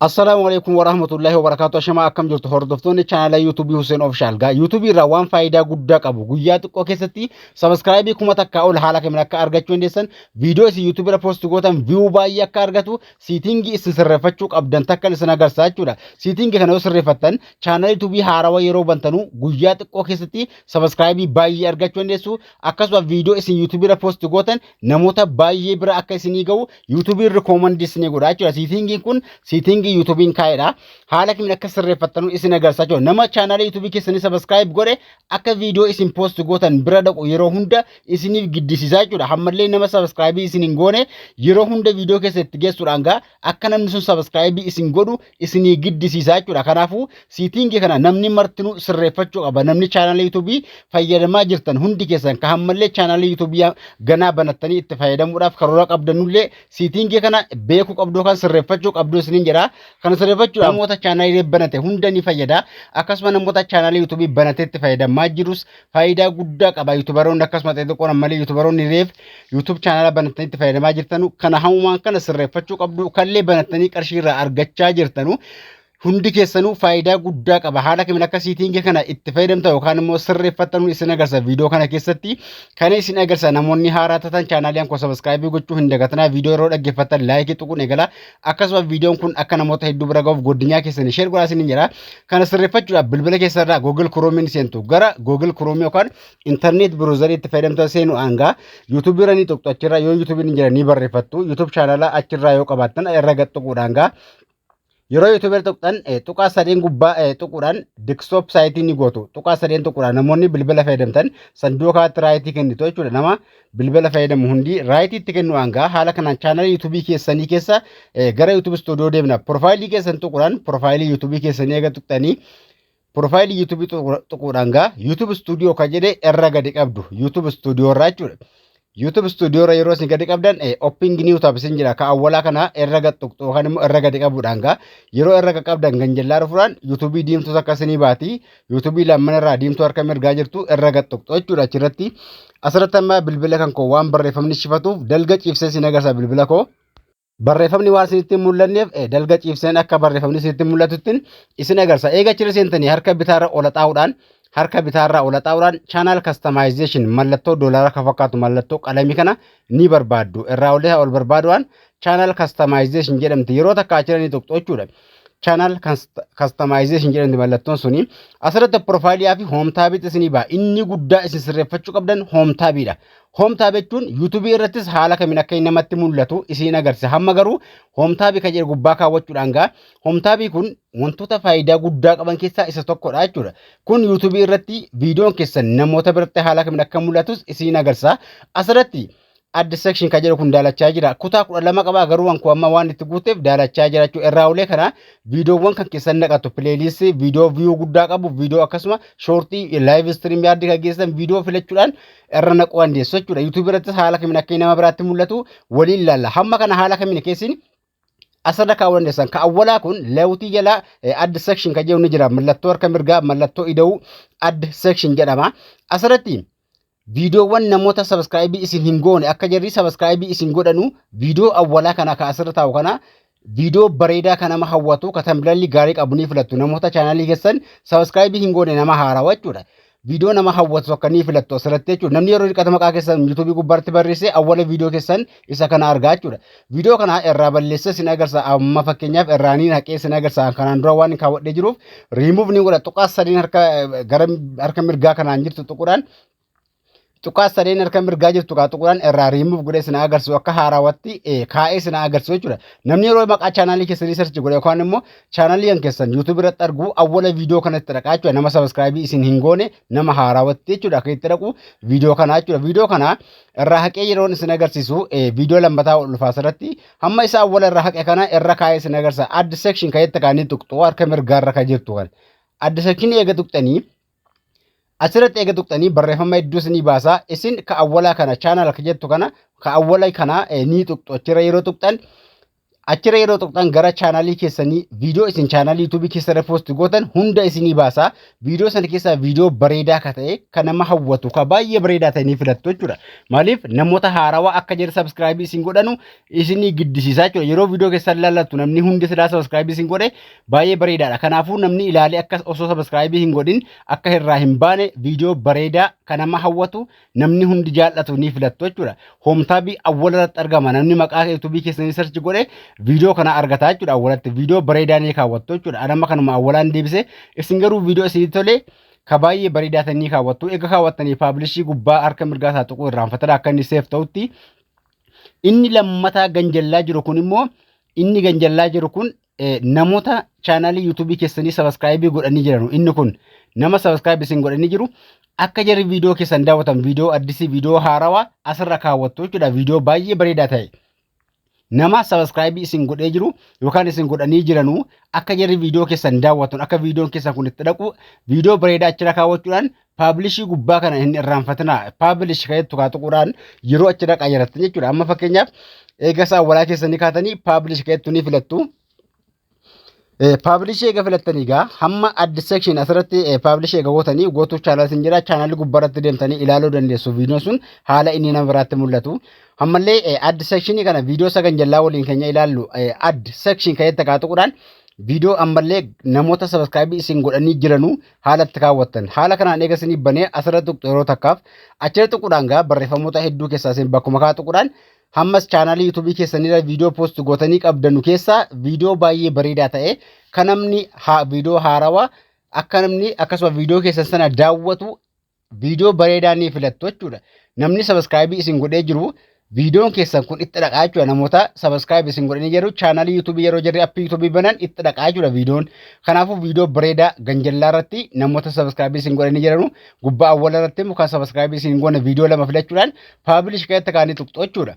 Assalaamu alaikum warahmatullahi wabarakatuh ashamaa akkam jirtu hordoftoonni chaanala yuutuubii Hussein Official gaa yuutuubii irraa waan faayidaa guddaa qabu guyyaa xiqqoo keessatti sabiskiraayibii kuma takkaa ol haala kamiin akka argachuu dandeessan viidiyoo isin yuutuubii irra poosti gootan viyuu baay'ee akka argatu siitingii isin sirreeffachuu qabdan takkan isin agarsiisa jechuudha siitingii kana yoo sirreeffattan chaanala yuutuubii haarawa yeroo bantanuu guyyaa xiqqoo keessatti sabiskiraayibii baay'ee argachuu dandeessu akkasumas viidiyoo isin yuutuubii irra poosti gootan namoota baay'ee bira akka isinii ga'u Yuutuubiin rikoomandii isin godha jechuudha. Siitingiin kun siitingii yuutuubiin kaa'edha. Haala kamiin akka sirreeffattanuu isin agarsiisa jechuudha. Nama chaanaalii yuutuubii keessanii sabaskiraayib godhe akka viidiyoo isin poost gootan bira dhaqu yeroo hunda isiniif giddisiisa jechuudha. Hammallee nama sabaskiraayibii isin hin goone yeroo hunda viidiyoo keessa itti geessuudhaan gaa akka namni sun sabaskiraayibii isin godhu isinii giddisiisaa jechuudha. Kanaafuu siitiingii kana namni martinuu sirreeffachuu qaba. Namni chaanaalii yuutuubii fayyadamaa jirtan hundi keessan ka hammallee chaanaalii yuutuubii ganaa banattanii itti fayyadamuudhaaf karoora qabdanullee siitiingii kana beekuu qabduu kan sirreeffachuu qabduu isiniin jedha. Kana sirreeffachuu namoota chaanaalii banate hunda ni fayyada. Akkasuma namoota chaanaalii yuutuubii banatee itti fayyadamaa jirus faayidaa guddaa qaba. Yuutubaroonni akkasumas xixiqqoon ammallee yuutubaroonni reef yuutuub chaanala banattanii itti fayyadamaa jirtanu kana hamumaan kana sirreeffachuu qabdu kallee banattanii qarshii irraa argachaa jirtanu hundi keessanuu faayidaa guddaa qaba. Haala kamiin akka siitingii kana itti fayyadamta yookaan immoo sirreeffattanuu isin agarsa viidiyoo kana keessatti kan isin agarsa namoonni haaraa tatan chaanaalii koo sabaskaayibii gochuu hin dagatinaa viidiyoo yeroo dhaggeeffattan laayikii tuquun eegala akkasuma viidiyoon kun akka namoota hedduu bira gahuuf godinyaa keessanii sheer godhaa isiniin jira. Kana sirreeffachuudhaaf bilbila keessa irraa Google Chrome ni seentu. Gara Google Chrome yookaan internet browser itti fayyadamtoota seenu hanga YouTube irra ni tuqxu achirraa yoo YouTube ni jira ni barreeffattu. YouTube chaanala achirraa yoo qabaattan irra gad tuquudhaan gaa yeroo yuutuubeer tuqxan tuqaa sadeen gubbaa tuquudhaan diksitoop saayitii ni gootu tuqaa sadeen tuquudhaan namoonni bilbila fayyadamtan sanduuqa irratti raayitii kennitu jechuudha nama bilbila fayyadamu hundi raayitii itti kennu hangaa haala kanaan chaanala yuutuubii keessanii keessa gara yuutuubii istuudiyoo deemna piroofaayilii keessan tuquudhaan piroofaayilii yuutuubii keessanii eega tuqxanii piroofaayilii yuutuubii tuquudhaan gaa yuutuub istuudiyoo kan jedhe irra gadi qabdu yuutuub istuudiyoo irraa jechuudha. YouTube studio irra yeroo isin gadi qabdan opping new tab isin jira ka awwalaa kana irra gad tuqxu yookaan immoo irra gadi qabuudhaan gaa yeroo irra gad qabdan ganjallaa dhufuudhaan YouTube diimtuu takka isinii baati yuutuubii lammana irraa diimtuu harka mirgaa jirtu irra gad tuqxu jechuudha achirratti asirratti amma bilbila kan koo waan barreeffamni shifatuuf dalga ciibsee siin agarsiisa bilbila koo barreeffamni waan isinitti hin mul'anneef eh, dalga ciibseen akka barreeffamni isinitti mul'atuttiin isin agarsiisa eega achirra seentanii harka bitaarra ola xaa'uudhaan harka bitaarra ola xaa'uudhaan channel customization mallattoo doolaara kan fakkaatu mallattoo qalamii kana ni barbaaddu irraa olii ol barbaaduudhaan channel customization jedhamti yeroo takka achirra ni tuqxu jechuudha channel customization jedhamti mallattoon suni asirratti profaayilii fi home taabiitti isinii ba'a inni guddaa isin sirreeffachuu qabdan home taabiidha home tab jechuun yuutuubii irrattis haala kamiin akka inni namatti mul'atu isin agarsiisa hamma garuu home taabii kan jedhu gubbaa kaawwachuudhaan gaa home taabii kun wantoota faayidaa guddaa qaban keessaa isa tokkodha jechuudha kun yuutuubii irratti viidiyoon keessan namoota biratti haala kamiin akka mul'atus isin agarsiisa asirratti Add section kan jedhu kun daalachaa jira. Kutaa kudha lama qaba garuu wankoo amma waan itti guuteef daalachaa jira jechuudha. Irraa ulee kana viidiyoowwan kan keessan naqatu pileeliistii viidiyoo viyuu guddaa qabu viidiyoo akkasuma shoortii laayiv istiriim yaaddi kan keessan viidiyoo filachuudhaan irra naquu dandeessu jechuudha. Yuutuubii irrattis haala kamiin akka nama biraatti mul'atu waliin ilaalla. Hamma kana haala kamiin keessin asirra kaa'uu dandeessan. Ka awwalaa kun leewutii jala add section kan jedhu ni jira. Mallattoo harka mirgaa mallattoo ida'uu add section jedhama. Asirratti Viidiyoowwan namoota sabiskiraayibii isin hin goone akka jarri sabiskiraayibii isin godhanu viidiyoo awwalaa kana ka asirra taa'u kana viidiyoo bareedaa kan nama hawwatu ka tambilalli gaarii qabu ni filattu namoota chaanaalii keessan sabiskiraayibii hin goone nama haarawa jechuudha. Viidiyoo nama hawwatu akka ni filattu asirratti jechuudha. Namni yeroo dhiqata maqaa keessan yuutuubii gubbaatti barreesse awwala viidiyoo keessan isa kana argaa jechuudha. Viidiyoo kana irraa balleessee sin agarsiisa. Amma fakkeenyaaf irraa niin haqee sin agarsiisa. Kanaan dura waan kaawwadhee jiruuf riimuuf ni godha. Tuqaa sadiin harka gara harka mirgaa kanaan jirtu tuquudhaan tuqaa sadeen harka mirgaa jirtu kaa tuquudhaan irraa riimuuf godhee sin agarsiisu akka haaraawatti kaa'ee sin agarsiisu jechuudha. Namni yeroo maqaa chaanaalii keessanii sarchi godhe yookaan immoo chaanaalii kan keessan yuutuubii irratti argu awwala viidiyoo kanatti dhaqaa jechuudha. Nama sabiskiraayibii isin hin goone nama haaraawatti jechuudha. Akka itti dhaqu viidiyoo kanaa jechuudha. Viidiyoo kanaa irraa haqee yeroon isin agarsiisu viidiyoo lammataa ol dhufaa asirratti hamma isa awwala irraa haqe kana irra kaa'ee isin agarsiisa add section kan jette kaanii tuqxu harka mirgaarra kan jirtu kan add section eega tuqxanii asirratti eega tuqxanii barreeffama hedduu isinii baasa isin ka awwalaa kana chaanal ka jettu kana ka awwala kana ni tuqxu achirra yeroo tuqxan Achirra yeroo tuqxan gara chaanaalii keessanii viidiyoo isin chaanaalii yuutuubii keessarra poosti gootan hunda isinii baasa. Viidiyoo sana keessaa viidiyoo bareedaa akka ta'e kan nama hawwatu kan baay'ee bareedaa ta'e ni filattu jechuudha. Maaliif namoota haarawaa akka jedhe sabiskiraayibii isin godhanu isinii giddisiisaa jechuudha. Yeroo viidiyoo keessan ilaallattu namni hundi silaa sabiskiraayibii isin godhe baay'ee bareedaadha. Kanaafuu namni ilaalee akka osoo sabiskiraayibii hin godhin akka irraa hin baane viidiyoo bareedaa kan nama hawwatu namni hundi jaallatu ni filattu jechuudha. Hoomtaabii awwala irratti argama namni maqaa yuutuubii keessanii sarchi godhe viidiyoo kana argata jechuudha awwalatti viidiyoo bareedaa ni kaawwattu jechuudha. Anamma kanuma awwalaan deebise isin garuu viidiyoo isinii tolee ka baay'ee bareedaa ta'e ni kaawwattu. Egaa kaawwattanii paablishii gubbaa harka mirgaa isaa tuquu irraanfatadha akka inni seef ta'utti. Inni lammataa ganjallaa jiru kun immoo inni ganjallaa jiru kun namoota chaanaalii yuutuubii keessanii sabaskiraayibii godhanii jiranu inni kun nama sabaskiraayibii isin godhanii jiru akka jarri viidiyoo keessan daawwatan viidiyoo addisii viidiyoo haarawaa asirra kaawwattu jechuudha viidiyoo baay'ee bareedaa ta'e. Nama sabaskiraayibii isin godhee jiru yookaan isin godhanii jiranu akka jarri viidiyoo keessan daawwatan akka viidiyoon keessan kun itti dhaqu viidiyoo bareedaa achirra kaawwachuudhaan paablishii gubbaa kana hin irraanfatinaa paablish ka'ee tuqaa tuquudhaan yeroo achi dhaqaa jirattan jechuudha amma fakkeenyaaf eega isaa walaa keessanii kaatanii paablish ka'eettu ni filattu. Paablishii eega filattanii egaa hamma addi sekshin asirratti paablishii eega gootanii gootuu chaanal isin jira chaanalii gubbaarratti deemtanii ilaaluu dandeessu viidiyoon sun haala inni nama biraatti mul'atu. Ammallee addi sekshinii kana viidiyoo sagan jallaa waliin keenya ilaallu addi sekshin ka'eetti kaa tuquudhaan viidiyoo ammallee namoota sabaskaabii isin godhanii jiranuu haala itti kaawwattan. Haala kanaan eega isiniif banee asirra tuqxu yeroo takkaaf achirra tuquudhaan gaa barreeffamoota hedduu keessaa isin bakkuma kaa tuquudhaan hammas chaanaalii yuutuubii keessanirra viidiyoo poosti gootanii qabdanu keessaa viidiyoo baay'ee bareedaa ta'e kan namni viidiyoo haarawaa akka namni akkasuma viidiyoo keessan sana daawwatu viidiyoo bareedaa ni filattu jechuudha. Namni sabaskiraayibii isin godhee jiru viidiyoon keessan kun itti dhaqaa jechuudha. Namoota sabaskiraayibii isin godhanii jiru chaanaalii yuutuubii yeroo jirri appii yuutuubii banan itti dhaqaa jechuudha viidiyoon. Kanaafuu viidiyoo bareedaa ganjallaa irratti namoota sabaskiraayibii isin godhanii jiranu gubbaa awwala irratti immoo kan sabaskiraayibii isin hin goone viidiyoo lama filachuudhaan paabilish keessatti kaanii tuqxu jechuudha.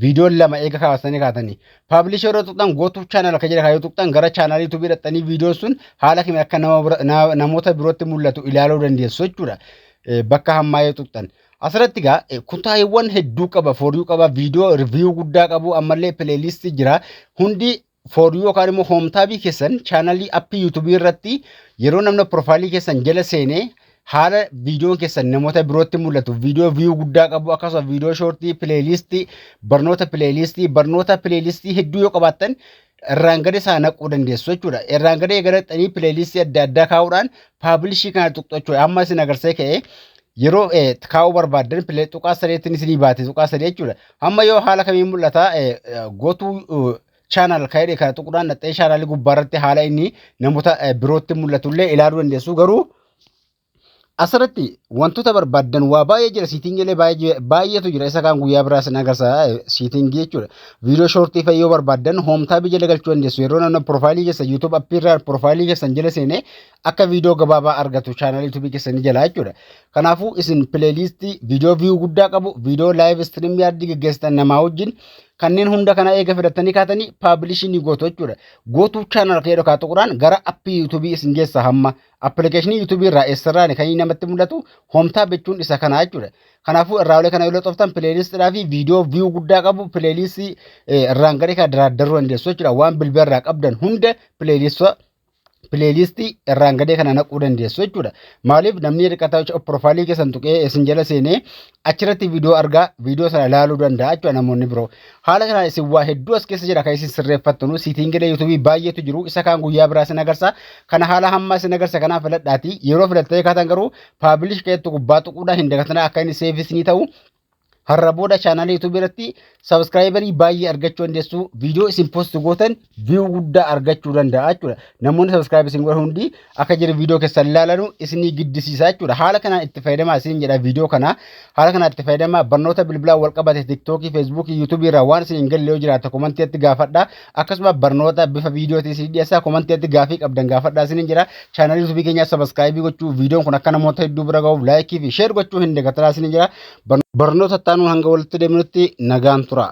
Viidiyoon lama eega kaasanii kaatanii. Paablisha irra tuqxan gootuuf chaanal akka jedha yoo tuqxan gara chaanalii tubii dhaqxanii viidiyoon sun haala kamiin akka nama bira- na- namoota birootti mul'atu ilaaluu dandeessu jechuudha. Eh, Bakka hammaa yoo tuqxan. Asirratti egaa eh, kutaawwan hedduu qaba, fooryuu qaba, viidiyoo riviiyuu guddaa qabu, ammallee pileelistii jira. Hundi for you yookaan immoo home taabii keessan chaanalii appii yuutubii irratti yeroo namni piroofaayilii keessan jala seenee haala viidiyoon keessan namoota birootti mul'atu viidiyoo viyuu guddaa qabu akkasuma viidiyoo shoortii pileeliistii barnoota pileeliistii barnoota pileeliistii hedduu yoo qabaattan irraan gadi isaa naquu dandeessu jechuudha. Irraan gadi eegalatanii pileeliistii adda addaa kaa'uudhaan paabilishii kana tuqxachuu amma isin agarsee ka'ee Yeroo eh, kaa'uu barbaaddan pile- tuqaa sadeetiin isinii baate tuqaa sadee jechuudha. Amma yoo haala kamiin mul'ata eh, eh, gotuu eh, channel kan jedhe kana tuquudhaan dhaxxee channel gubbaa irratti haala inni namoota eh, birootti mul'atu illee ilaaluu dandeessu garuu asirratti wantoota barbaaddan waa baay'ee jira siitingiilee baay'ee baay'eetu jira isa kaan guyyaa biraa sin agarsiisa eh, siitingii jechuudha viidiyoo shoortii fa'i yoo barbaaddan hoomtaabii jala galchuu dandeessu yeroo namni piroofaayilii keessan yuutuub appii irraa piroofaayilii keessan jala seenee akka viidiyoo gabaabaa argatu chaanal yuutuubii keessanii jalaa jechuudha. Kanaafuu isin pileeliistii viidiyoo viyuu guddaa qabu viidiyoo laayiv istiriim yaardii geggeessitan namaa wajjin kanneen hunda kana eega filattanii kaatanii paabilishii ni gootu jechuudha. Gootuu chaanal kee dhokaa tuquraan gara appii yuutuubii isin geessa hamma appilikeeshinii yuutuubii irraa eessarraan kan inni namatti mul'atu hoomtaa bechuun isa kana jechuudha. Kanaafuu irraa olee kana yoo loxoftan pileeliistiidhaa fi viidiyoo viyuu guddaa qabu pileeliistii irraan gadhee kana daraaddaruu dandeessu jechuudha. Waan bilbila irraa qabdan hunda pileeliistii pileelistii irraan gadee kana naquu dandeessu jechuudha. Maaliif namni hirkataa jechuudha piroofaayilii keessan tuqee isin jala seenee achirratti viidiyoo argaa viidiyoo sana ilaaluu danda'a jechuudha namoonni biroo. Haala kanaan isin waa hedduu as keessa jira kan isin sirreeffattanu siitiingilee yuutuubii baay'eetu jiru isa kaan guyyaa biraa isin agarsa kana haala hammaa isin agarsa kanaan filadhaati yeroo filattee kaatan garuu paabilish keetti gubbaa tuquudhaan hin dagatinaa akka inni seefis ni ta'u Har'a booda chaanaalii YouTube irratti sabiskiraayibarii baay'ee argachuu dandeessu. Viidiyoo isin post gootan viyuu guddaa argachuu danda'a jechuudha. Namoonni sabiskiraayib isin godhan hundi akka jiru viidiyoo keessan ilaalanu isinii giddisiisa jechuudha. Haala kanaan itti fayyadamaa isin jedha viidiyoo kana. Haala kanaan itti fayyadamaa barnoota bilbilaa wal qabate tiktookii, feesbuukii, yuutuubii irraa waan isin hin galle yoo jiraate komantiitti gaafadha. Akkasuma barnoota bifa viidiyootiin isin dhiyeessaa komantii irratti gaafii qabdan gaafadhaa isiniin jira. Chaanalii YouTube keenyaa sabaskaayibii gochuu viidiyoon kun akka namoota hedduu bira gahuuf laayikii fi sheer gochuu hin dagatinaa isiniin jira. Barnoota itti aanuun hanga walitti deemnutti nagaan turaa.